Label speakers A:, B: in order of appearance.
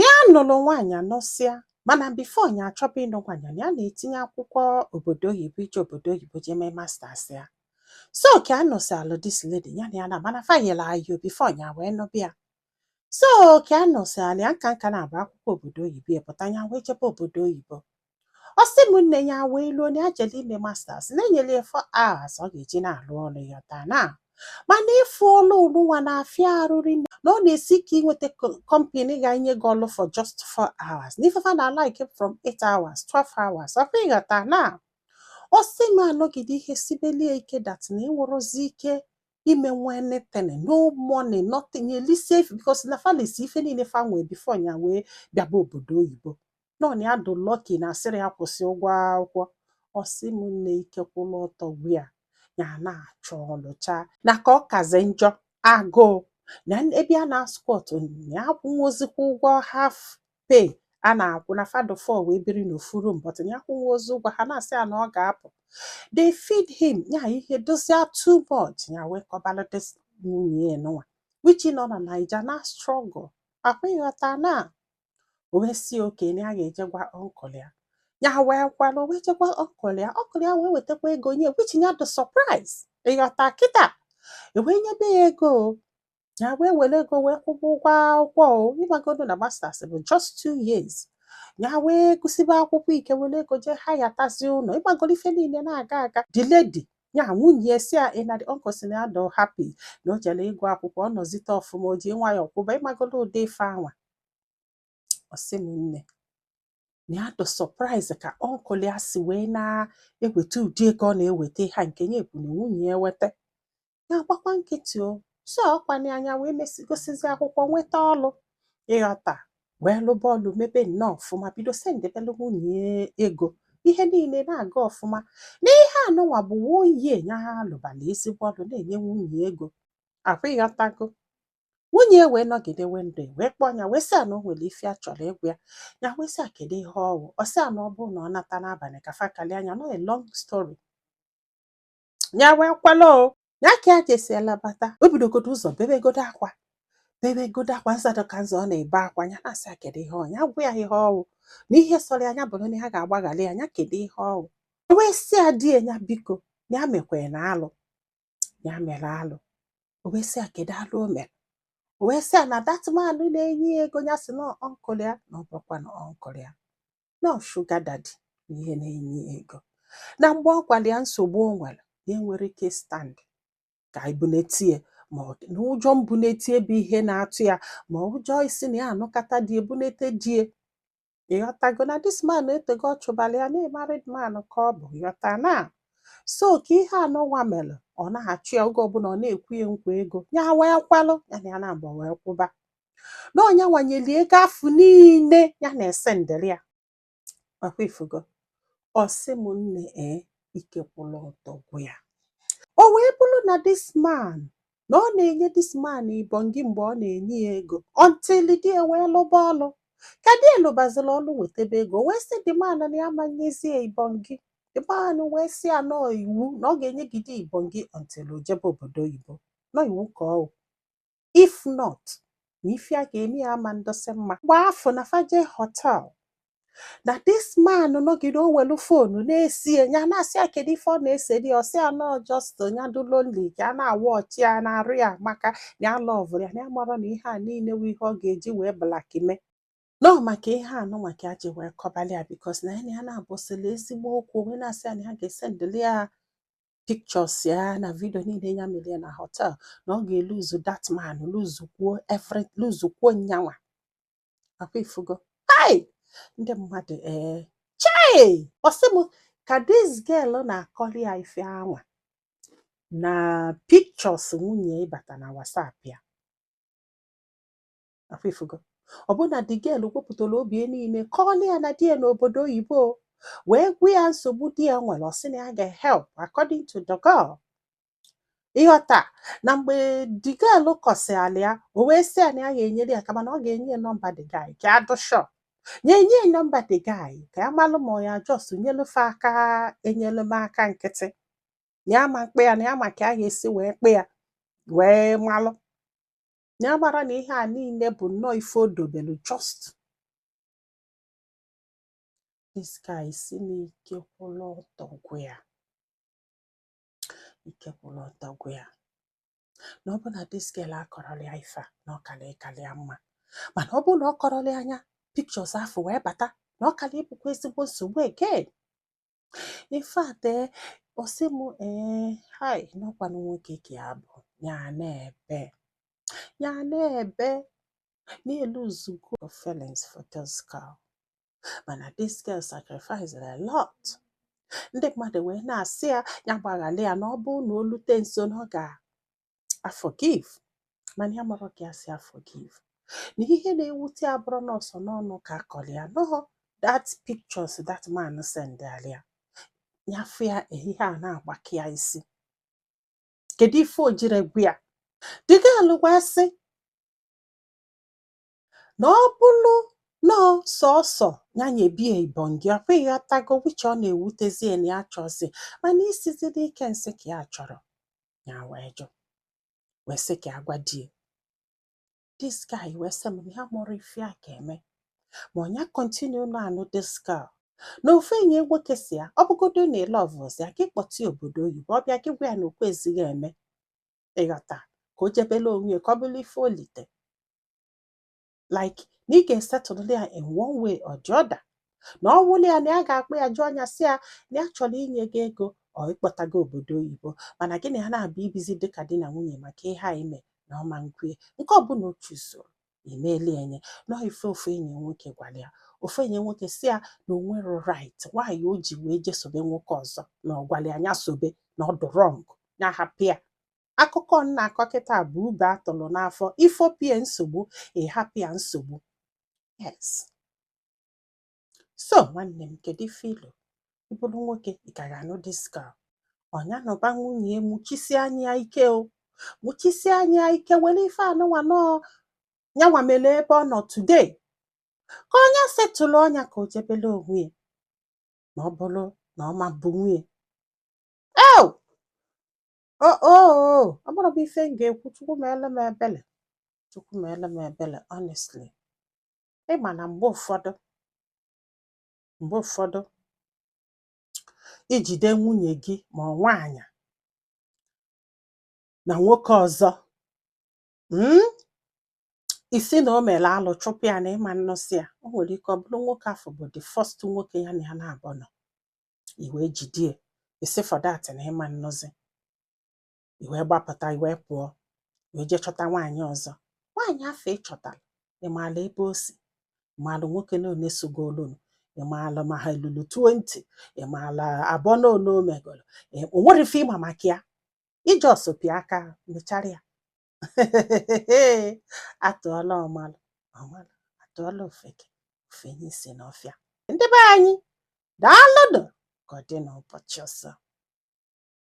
A: ya nụlụ nwaanyị anụsịa mana before ya achọba ịnụ nwaanyị ya na-etinye akwụkwọ obodo oyibo ije obodo oyibo jee mee masters ya so ka anụsịalụ this lady ya na ya na mana fa yela ayo before ya wee nụba ya so ka anụsịalị ya nka nka na-abụ akwụkwọ obodo oyibo ya pụta ya wee jebe obodo oyibo ọ sị m nne ya wee luo na ya jelu ime masters na e nyere ya four hours ọ ga-eji na-alụ ọlụ ịghọta na mana ịfụ ọlụ anụnwa na-afịa arụ rinne na ọ na-esi ike inweta company ga-enye gị ọlụ for just four hours na ife fa na like from eight hours 12 hours ọkwa ịghọta na ọ sị m anọgide ihe sibeli ya ike that na enwerọzi ike ime nwa anything no money nothing eli sef because na fa lesi ife niile fa nwee before ya wee bịaba obodo oyibo nọ na ya dụ lucky na asịrọ ya kwụsịa ụgwọ akwụkwọ ọ sị m nne ike kwụlụ ọtọ gwụ ya na-achọ ọlụ chaa na ka ọ kazi njọ agụụ na ebe a na-asquat ya akwụnwozikwa ụgwọ half pay a na-akwụ na fa dụ four wee biri n'ofu room but ya akwụnwozi ụgwọ ha na-asị ya na ọ ga-apụ they feed him ya ihe dụzie too much ya wee kọbalụ this nwunye ya anụnwa which nọ na naija na struggle ọkwa ịghọta na o wee sị okay na ya ga-eje gwa uncle ya ya wee kwelụ o wee je gwa uncle ya uncle ya wee wetakwa ego nye which ya dụ surprise ịghọta kịta e wee nyebe ya ego ya wee welu ego wee kwụba ụgwọ akwụkwọ o ịmagodo na masters bụ just two years ya wee gụsịba akwụkwọ ike welu ego jee hayatazi ụnọ ịmagodo ife niile na-aga aga the lady ya nwunye sị ya na the uncle sị na ya dụ happy na o jere ịgụ akwụkwọ ọ nọzite ọfụma o ji nwayọọ kwụba ịmagodo ụdị ife anwa ọ sị m nne na ya dụ surprise ka uncle ya si wee na-eweta ụdị ego ọ na-eweta ha nke nye ekwu na nwunye ya eweta ya gbakwa nkịtị o so ọkwa na ya wee mesịa gụsịzi akwụkwọ nweta ọlụ ịghọta wee lụba ọlụ mebe nnọọ ọfụma bido sendebelụ nwunye ya ego ihe niile na-aga ọfụma na ihe anụnwa bụ one year ya alụbala ezigbo ọlụ na-enye nwunye ego ọkwa ịghọtago nwunye ya wee nọgide one day wee kpọọ ya wee sị ya na o nwere ife ọ chọrọ ịgwa ya ya wee sị ya kedu ihe ọ wụ ọ sị ya na ọ bụrụ na ọ nata n'abalị ka fa kalịa ya na ọ a long story ya wee kwelụ o ya ka ya jesịalụ bata o bidogodo ụzọ bebegodo akwa bebegodo akwa nzado ka nzọ ọ na-ebe akwa ya na-asị ya kedu ihe ọ ya gwa ya ihe ọ wụ na ihe sọrọ ya bụrụ na ya ga-agbaghalụ ya ya kedu ihe ọ wụ o wee sị ya di ya biko ya emekwena alụ ya mere alụ o wee sị ya kedu alụ o mere o wee sị ya na that man na-enye ya ego ya sị na ọ uncle ya na ọ bụrọkwanụ uncle ya na ọ sugar daddy ya na-enye ya ego na mgbe ọ gwara ya nsogbu o nwere na ya enwerọ ike stand ka e bunete ya mana ụjọ mbunete ya bụ ihe na-atụ ya ma ụjọ isi na ya anụkata di ebunete di ya ịghọtago na this man etego ọ chụbala ya na married man ka ọ bụ ịghọta na so ka ihe anụwa mere ọ na-achụ ya oge ọbụla ọ na-ekwe ya nkwa ego ya wee kwelụ ya na ya na agba wee kwụba na ọ nyanwa nyeli ego afụ niile ya na-esendịrị ya ọkwa ifugo ọ sị m nne ee ike kwụrụ ọtọ gwụ ya o wee bụrụ na this man na ọ na-enye this man ibongi mgbe ọ na-enye ya ego until di ya wee lụba ọlụ ka di ya lụbazila ọlụ wetebe ego o wee sị the man na ya ama nyezi ya ibongi the man wee sị ya na ọ iwu na ọ ga-enyegide ibongi until o jebe obodo oyibo na ọ iwu ka ọ wụ. if not na ife ya ga-eme ya ama ndụsị mma mgbe afụ na fa je hotel na this man nọgide o welu fonu na-ese ya nya na-asị ya kedu ife ọ na-eseri ọ sị ya na ọ just nya dị lonely ka ya na-awatch ya na-arụ ya maka na ya love ya na ya mara na ihe a niile wụ ihe ọ ga-eji wee blackmail na ọ maka ihe a na ọ maka ya ji wee kọbalị ya because na ya na ya na-abụsịla ezigbo okwu wee na-asị ya na ya ga-esendịlị ya pictures ya na video niile ya mere ya na hotel na ọ ga-eluzu that man luzukwuo every luzukwuo nyanwa ọkwa ifugo hai ndị mmadụ ee chai ọ sị m ka this girl na-akọrọ ya ife anwa na pictures nwunye ya bata na WhatsApp ya ọkwa ifugo ọ bụ na the girl wepụtara obi ya niile kọọlị ya na di ya nọ obodo oyibo wee gwa ya nsogbu di ya nwere ọ sị na ya ga-help according to the girl ịghọta na mgbe the girl kọsịala ya o wee sị ya na ya ga-enyere ya aka mana ọ ga-enye ya nọmba the guy ka ya dụ sure ya enye ya nọmba the guy ka ya malụ ma ọ ya just nyelu fa aka enyelumaka nkịtị na ya ma mkpe ya na ya ma ka ya ga-esi wee kpe ya wee malụ na ya mara na ihe a niile bụ nnọọ ife o dobelu just this guy sị na ike kwụrụ ọtọ gwụ ya ike kwụrụ ọtọ gwụ ya na ọ bụ na this girl akọrọlị ya ife a na ọ kara ịkarị ya mma mana ọ bụrụ na ọ kọrọlị ya nya pictures afụ wee bata na ọ kara ịbụkwa ezigbo nsogbu again in fact ee ọ sị m ee hai na ọkwanụ nwoke ka ya bụ ya na-ebe ya na-ebe na eluzugo feelings for this girl mana this girl sacrifice a lot ndị mmadụ wee na-asị ya ya gbaghara ya na ọ bụrụ na o lute nso na ọ ga-aforgive mana ya amarọ ka ya si aforgive na ihe na-ewute ya bụrụ na ọ sọ n'ọnụ ka a kọrọ ya na ọ that pictures that man sendara ya ya fụ ya eh ihe a na-agbaka ya isi kedu ife o jiri gwu ya the girl agwa sị na ọ bụrụ na ọ sọsọ ya nyebe ya ibongi ọkwa ịghọtago which ọ na-ewutezi ya na ya chọzi mana isizi n'ike nsị ka ya chọrọ ya wee jụ wee sị ka a gwa di ya this guy wee sị m na ya amarọ ife ya ga-eme ma ọ nya continue na-anụ this girl na ofu enyi nwoke sị ya ọ bụgodu na ị lovezi ya gị kpọta ya obodo oyibo ọ bịa gị gwa ya na o kwezighị eme ịghọta ka o jebelu onwe ya ka ọ bụrụ ife o lite like na ị ga-esettle ya in one way or the other na ọ wụlụ ya na ya ga-akpọ ya juo anya sị ya na ya chọrọ inye gị ego or ịkpọta gị obodo oyibo mana gị na ya naabọ ibizi dịka di na nwunye maka ihe a i me na ọ ma nkwe nke ọbụla o choosoro i meeli e nye na ọ ife ofu enyi nwoke gwara ya ofu enyi nwoke sị ya na o nwerọ right why o ji wee je sobe nwoke ọzọ na ọ gwara ya nya sobe na ọ dị wrong ya hapụ ya akụkọ m na-akọ kịta bụ ube a tụrụ n'afọ i fopụ ya nsogbu ị hapụ ya nsogbu yes so nwanne m kedu ife i lo ị bụrụ nwoke ị ka ga-anụ this girl ọ nya nụba nwunye ya muchisie anya ya ike o muchisie anya ya ike were ife anụnwa na ọ nyanwa mere ebe ọ nọ today ka ọ nya settle nya ka o jebelu onwe ya ma ọ bụrụ na ọ ma-abụ nwunye ya o o o ọ bụrụ bụ ife m ga-ekwu chukwu meelu m ebele chukwu meelu m ebele honestly ị ma na mgbe ụfọdụ mgbe ụfọdụ i jide nwunye gị ma ọ nwaanyị na nwoke ọzọ mm, ị sị na o mere alụ chụpụ ya na ị ma nnụzi ya o nwere ike ọ bụrụ nwoke afụ bụ the first nwoke ya na ya naabọ nọ i wee jide ya ị sị for that na ị ma nnụzi i wee gbapụta i wee pụọ wee jee chọta nwaanyị ọzọ nwaanyị afụ ị chọtara ị maala ebe o si ị maala nwoke na one sogolunu ị maala ma ha lulu 20 ị maala abọ na one o megolu Ị- o nwere ife ị ma maka ya ị just pịa aka mechara ya a tụọla ọmalụ ọ malụ a tụọla ofeke o fenye isi n'ọfịa ndị be anyị daalụnụ ka ọ dị n'ụbọchị ọzọ